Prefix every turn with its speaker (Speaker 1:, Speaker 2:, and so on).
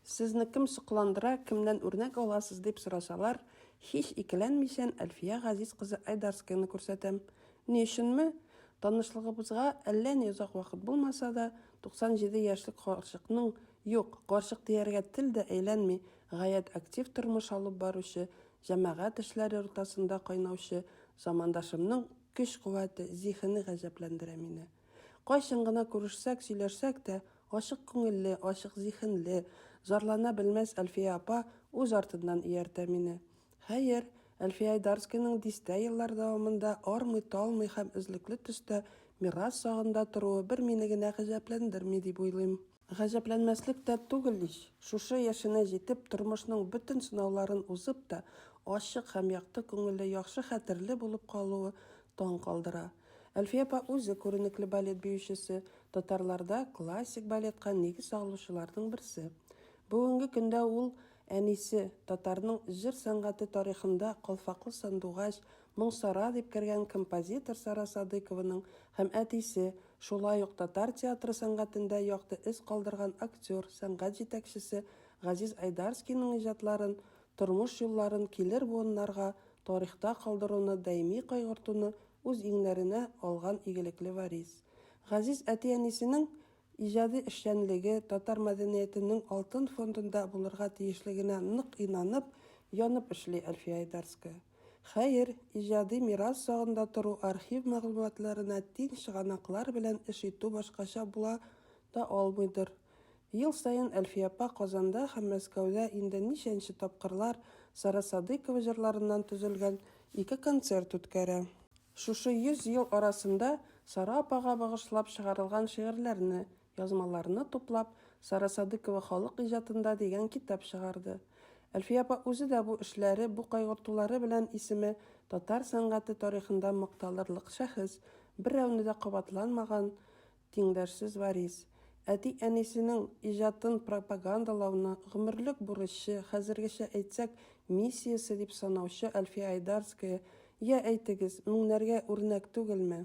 Speaker 1: Сезне кем сокландыра, кемнән үрнәк аласыз, дип сорасалар, һич икеләнмичән Әлфия Газиз кызы Айдарскаяны күрсәтәм. Ни өченме? Танышлыгыбызга әллә ни озак вакыт булмаса да, 97 яшьлек карчыкның, юк, карчык дияргә тел дә әйләнми, гаять актив тормыш алып баручы, җәмәгать эшләре уртасында кайнаучы замандашымның көч-куәте, зиһене гаҗәпләндерә мине. Кайчан гына күрешсәк, сөйләшсәк тә, ачык күңелле, ачык зиһенле, зарлана белмәс Әлфия апа үз артыннан ияртә мине. Хәер, Әлфия Айдарскиның дистә еллар дәвамында армый-талмый һәм эзлекле төстә мирас сагында торуы бер мине генә гаҗәпләндерми дип уйлыйм. Гаҗәпләнмәслек тә түгел ич, шушы яшенә җитеп, тормышның бөтен сынауларын узып та, ачык һәм якты күңелле, яхшы хәтерле булып калуы таң калдыра. Әлфия апа үзе күренекле балет биючесе, татарларда классик балетка нигез салучыларның берсе. Бүгенге көндә ул, әнисе, татарның җыр сәнгате тарихында калфаклы сандугач, Моңсара дип кергән композитор Сара Садыкованың һәм әтисе, шулай ук татар театры сәнгатендә якты эз калдырган актер, сәнгать җитәкчесе Газиз Айдарскийның иҗатларын, тормыш юлларын килер буыннарга тарихта калдыруны даими кайгыртуны үз иңнәренә алган игелекле Варис. Газиз әти-әнисенең Иҗади эшчәнлеге татар мәдәниятенең алтын фондында булырга тиешлегенә нык инанып, янып эшли Әлфия Айдарская. Хәер, иҗади мирас сагында тору, архив мәгълүматларына тиң чыганаклар белән эш итү башкача була да алмыйдыр. Ел саен Әлфия апа Казанда һәм Мәскәүдә инде ничәнче тапкырлар Сара Садыйкова җырларыннан төзелгән ике концерт үткәрә. Шушы йөз ел арасында Сара апага багышлап чыгарылган шигырьләрне, язмаларны туплап, Сара Садыкова халык иҗатында дигән китап чыгарды. Әлфия апа үзе дә бу эшләре, бу кайгыртулары белән исеме татар сәнгате тарихында макталырлык шәхес, берәүне дә кабатланмаган, Тиңдәшсез варис. Әти-әнисенең иҗатын пропагандалауны гомерлек бурычы, хәзергечә әйтсәк, миссиясе дип санаучы Әлфия Айдарская, Йә, әйтегез, меңнәргә үрнәк түгелме?